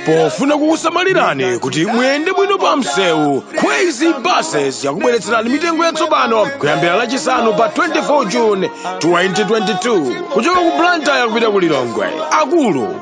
pofuna kukusamalirani kuti muyende bwino pa msewu kwezy buses yakubweretserani mitengo yatsopano kuyambira lachisanu pa 24 june 2022 kuchoka ku blantyre kupita ku lilongwe akulu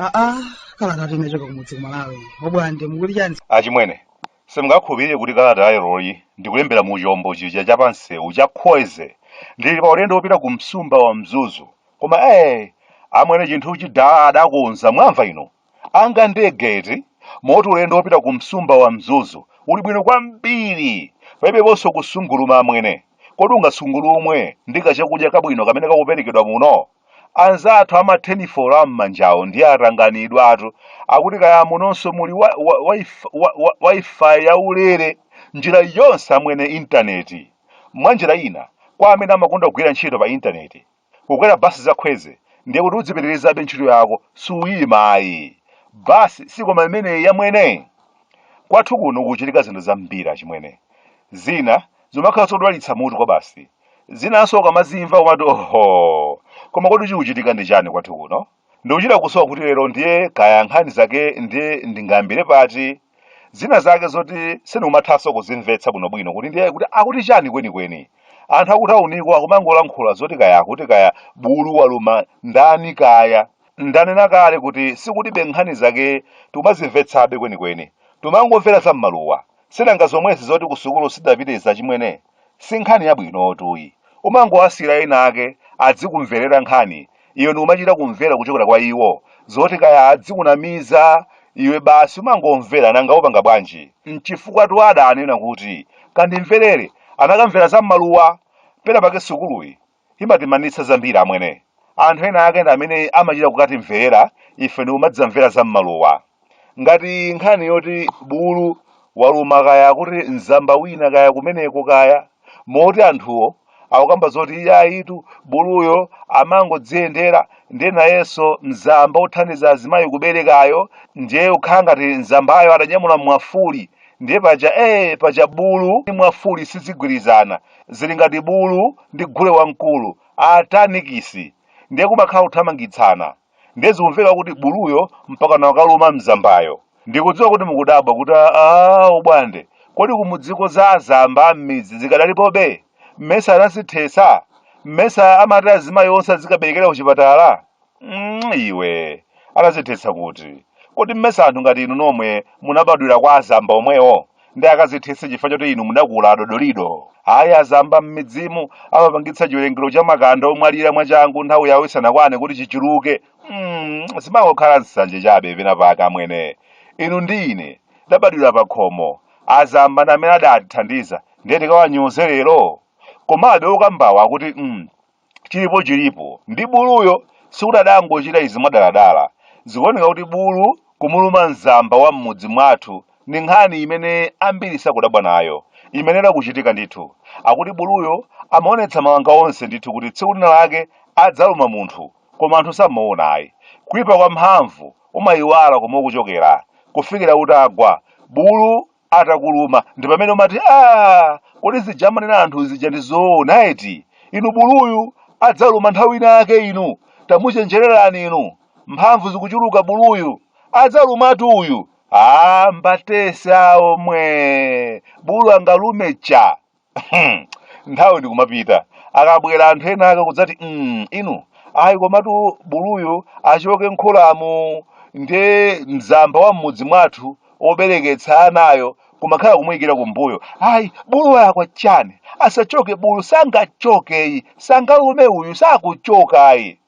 aa kalata yochoka kumudzi kumalawi obwande mukuti chani achimwene simungakhulupirire kuti kalata yaleroyi ndikulembera mu chombo chija cha pansewu cha kwezy ndili pa ulendo wopita ku msumba wa mzuzu koma ee amwene chinthu chija adakonza mwamva ino Ngati ndege eti? Moti ulendo wopita ku msumba wa Mzuzu uli bwino kwambiri. Palibeponso kusunguluma amwene. Kodi ungasungulumwe ndi kachakudya kabwino kamene kakuperekedwa muno? Anzathu a mathenifolo a m'manjawo ndiye atanganidwatu. Akuti kaya munonso muli Wi-Fi yaulere njira yonse amwene intaneti. Mwa njira ina, kwa amene amakonda kugwira ntchito pa intaneti, Kukwera bus za Kwezy ndiye kuti udzipitirizabe ntchito yako suyima ayi. Bus sikoma imeneyi amwene. Kwathu kuno kukuchitika zinthu zambiri achimwene. Zina zimakhala zodwalitsa mutu kwabasi. Zinanso ukamazimva umati ohoo! Koma kodi chikuchitika ndi chani kwathu kuno? Ndikuchita kusowa kuti lero ndiye kaya nkhani zake ndiye ndingayambire pati, zina zake zoti sindikumathanso kuzimvetsa bwinobwino kuti ndiye kuti akuti chani kwenikweni. Anthu akutauniko akumangolankhula zoti kaya akuti kaya bulu waluma ndani kaya. Ndanena kale kuti sikuti ife nkhani zake tikumazimvetsabe kwenikweni. Timangomvera za m'maluwa. Sinanga zomwezi zoti kusukulu sitidapite achimwene. si nkhani yabwinotu iyi umangowasiyira ena ake adzikumverera nkhani iwe ndikumachita kumvera kuchokera kwa iwo zoti kaya adzikunamiza iwe basi umangomvera nanga upanga bwanji mchifukwatu adanena kuti kandimverere anakamvera za mmaluwa pena pake sukuluyi imatimanitsa zambiri amwene anthu ena ake ndi amene amachita kukatimvera ife ndi kumadzamvera za m'maluwa ngati nkhani yoti bulu waluma kaya kuti mzamba wina kaya kumeneko kaya moti anthuwo akukamba zoti iyayitu buluyo amangodziyendera ndiye nayenso mzamba othandiza azimayi kuberekayo ndiye ukhala ngati mzambayo adanyamula mwafuli ndiye paja ee paja bulu ndi mwafuli sizigwirizana zili ngati bulu ndi gule wamkulu atanikisi ndiye kumakhala kuthamangitsana ndiye zikumveka kuti buluyo mpakana wakaluma mzambayo ndikudziwa kuti mukudabwa kuti aa ubwande kodi kumudziko za azamba am'midzi zikadalipobe mmesa anazithetsa mmesa amati azimayi onse azikaberekera kuchipatala mm, iwe anazithetsa kuti kodi mmesa anthu ngati inu nomwe munabadwira kwa azamba omwewo nde akazithetse chifukwa choti inu mudakula adodolido ayi azamba m'midzimu amapangitsa chiwerengero cha makanda omwalira mwachangu nthawi yawo isanakwane kuti chichuluke mm, zimangokhala nsanje chabe pena pake amwene inu ndi ine tidabadwira pa khomo azamba ndi amene adatithandiza ndiye tikawanyoze lero komabe okambawo akuti mm, chilipo chilipo ndi buluyo sikuti adangochita izi mwadaladala zikuoneka kuti bulu kumuluma mzamba wa m'mudzi mwathu ndi nkhani imene ambiri sakudabwa nayo imayenera kuchitika ndithu akuti buluyo amaonetsa mawanga onse ndithu kuti tsiku lina lake adzaluma munthu koma anthu samaona ayi kuipa kwa mphamvu umayiwala komwe ukuchokera kufikira utagwa bulu atakuluma ndi pamene umati aa kodi zija amanena anthu zija ndi zoona eti inu buluyu adzaluma nthawi ina yake inu tamuchenjererani inu mphamvu zikuchuluka buluyu adzalumatu uyu aa mbatese awo mwe bulu angalume cha Hmm, nthawi ndikumapita akabwera anthu ena ake kudzati mm, inu ayi komatu buluyu achoke m'kholamu nde mzamba wa m'mudzi mwathu obereketsa anayo kumakhala kumuyikira kumbuyo ayi bulu walakwa chani asachoke bulu sangachoke ayi sangalume uyu sakuchoka ayi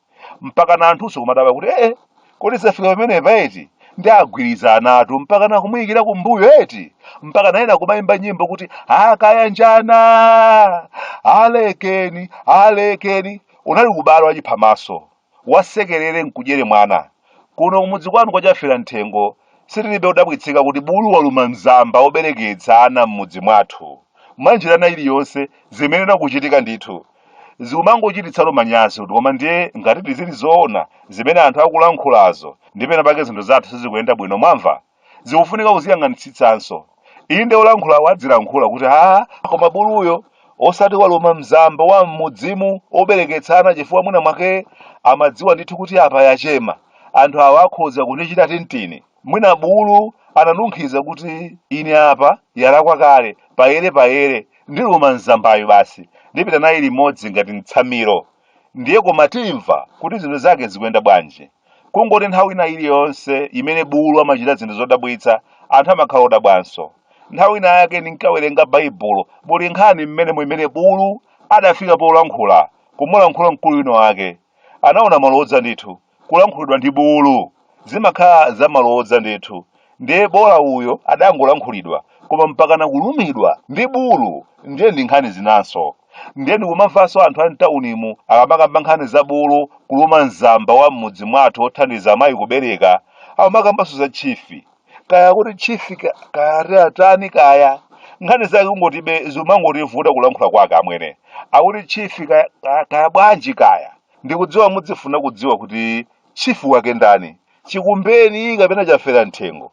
mpaka na anthunso kumadabwa kuti ee kodi zafika pamenepa eti nde agwirizanatu mpaka na kumuyikira kumbuyo eti mpaka na ena kumayimba nyimbo kuti akayanjana alekeni alekeni unali ubale wachiphamaso wandisekerere nkudyere mwana kuno kumudzi kwanu kwachafera mthengo sitilibe kudabwitsika kuti bulu waluma mzamba obereketsa ana m'mudzi mwathu mwanjira ina iliyonse zimayenera kuchitika ndithu zikumangochititsa manyazi kuti koma ndiye ngatidi zili zoona zimene anthu akulankhulazo nde pena pake zinthu zathu sizikuyenda bwino mwamva zikufunika kuziyang'anitsitsanso inde olankhulawo adzilankhula kuti a koma buluyo osati waluma mzamba wa mmudzimu obereketsa ana chifukwa mwina mwake amadziwa ndithu kuti apa yachema anthu awa akhoza kundichita tintini Mwina bulu ananunkhiza kuti ine apa yalakwa kale, payerepayere, ndiluma mzambayu basi ndipita naye limodzi ngati mtsamiro ndiye koma timva kuti zinthu zake zikuyenda bwanji. Kungoti nthawi ina iliyonse imene bulu amachita zinthu zodabwitsa anthu amakhala odabwanso. Nthawi ina yake ndinkawerenga Baibulo muli nkhani m'menemo imene bulu adafika polankhula komulankhula mkulu wina wake. Anaona malodza ndithu. kulankhulidwa ndi bulu zimakhala zamalodza ndithu ndiye bola uyo adangolankhulidwa koma mpakana kulumidwa ndi bulu ndiye ndi nkhani zinanso ndiye ndikumamvanso anthu a mtaunimu akamakamba nkhani za bulu kuluma mzamba wa m'mudzi mwathu othandiza amayi kubereka amakambanso za chifi kaya kuti chifi kaya ati atani kaya nkhani zake kungotibe zimangotivuta kulankhula kwake amwene akuti chifi kaya, kaya, kaya bwanji kaya Ndikudziwa mudzifuna kudziwa kuti chief wake ndani, chikumbeni kapena chafera mthengo.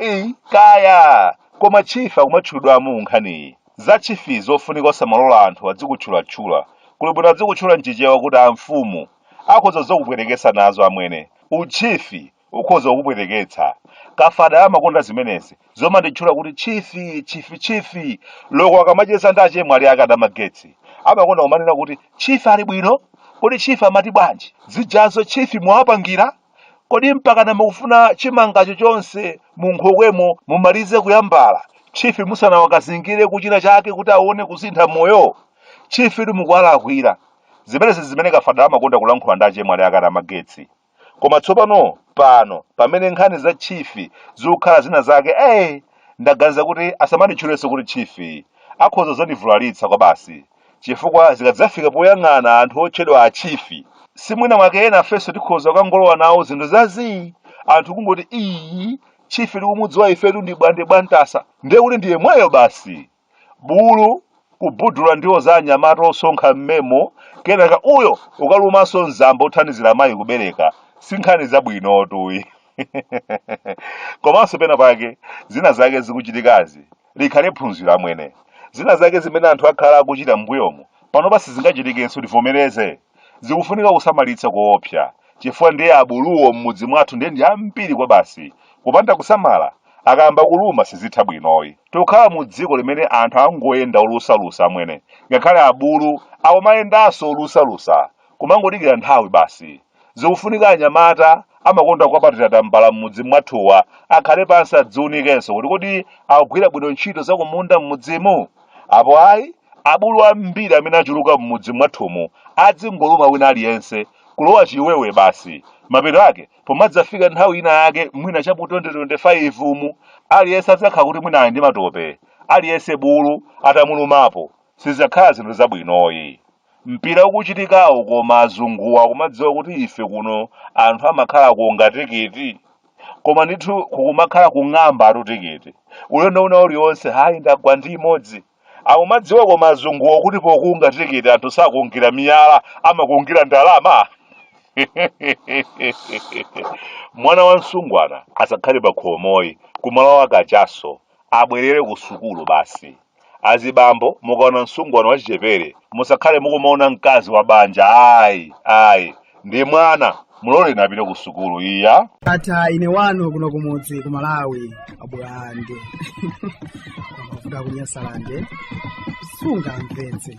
Eyi, kaya! Koma chief akumatchulidwamo mu nkhaniyi. Za chief zofunika osamalola anthu adzikutchulatchula. Kuli bwino adzikutchula mchichewa kuti amfumu. Akhoza kudzakupweteketsa nazo amwene. U chief ukhoza kukupweteketsa. Kafadala amakonda zimenezi, zomanditchula kuti tchifi, tchifi, tchifi. Loko akamacheza ndi achemwali ake adamagetsi, amakonda kumanena kuti, Tchifi ali bwino? Kodi tchifi amati bwanji? Zijazo tchifi mwawapangira? Kodi mpakana mukufuna chimangacho chonse munkhokwemo mumalize kuyambala, tchifi musanawakazingire kuchina chake kuti aone kusintha moyo? Tchifitu mukuwalakwira. Zimenezi n'zimene Kafadala amakonda kulankhula ndi achemwali ake adamagetsi. Koma tsopano, pano, pamene nkhani za Chief zikukhala zina zake, eh! ndaganiza kuti asamanditchulenso kuti Chief. Akhoza dzandivulalitsa kwabasi. Chifukwa zikadzafika poyang'ana anthu otchedwa a Chief, si mwina mwake enafenso tikhoza kukangolowa nawo zinthu za zii! Anthu kungoti, Iii, Chief tikumudziwa ifetu ndi Bwande Bwantaza. Ndiye kuti ndi yemweyo basi! bulu kubudula ndiwo za anyamata osonkha mmemo kenaka uyo ukalumanso mzamba othandizira mayi kubereka si nkhani zabwinotu iyi komanso pena pake zina zake zikuchitikazi likhale phunziro amwene zina zake zimene anthu akhala akuchita m'mbuyomo panopa sizingachitikenso tivomereze zikufunika kusamalitsa koopsa chifukwa ndiye abuluwo m'mudzi mwathu ndiye ndi ambiri kwa basi kupanda kusamala akayamba kuluma sizitha bwinoyi tikukhala mu dziko limene anthu akungoyenda olusalusa amwene ngakhale abulu akumayendanso olusalusa kumangodikira nthawi basi zikufunika anyamata amakonda kupatira tambala m'mudzi mwathuwa akhale pansi adziunikenso kuti kodi akugwira bwino ntchito zakumunda m'mudzimu apo ayi abulu ambiri amene achuluka m'mudzi mwathumu adzingoluma wina aliyense kulowa chiwewe basi mapeto ake pomadzafika nthawi ina yake mwina cha mu 2025 umu aliyense adzakhala kuti mwina ali ndi matope aliyense bulu atamulumapo sizakhala zinthu zabwinoyi mpira ukuchitikawo koma azunguwa akumadziwa kuti ife kuno anthu amakhala kukunga tikiti koma ndithu kukumakhala kung'amba tutikiti ulendo wina ulionse hayi ndagwa ndi imodzi akumadziwa koma azunguwo kuti pokunga tikiti anthu sakungira miyala amakungira ndalama mwana wa msungwana asakhale pa khomoyi kumalo a kachaso abwerere ku sukulu basi Azibambo mukaona msungwana wachichepere musakhale mukumaona mkazi wa banja ayi ayi ndi mwana muloleni apite ku sukulu iya ndatha ine wanu kuno kumudzi ku malawi abwande amavuta kunyasalande sunga mpenzi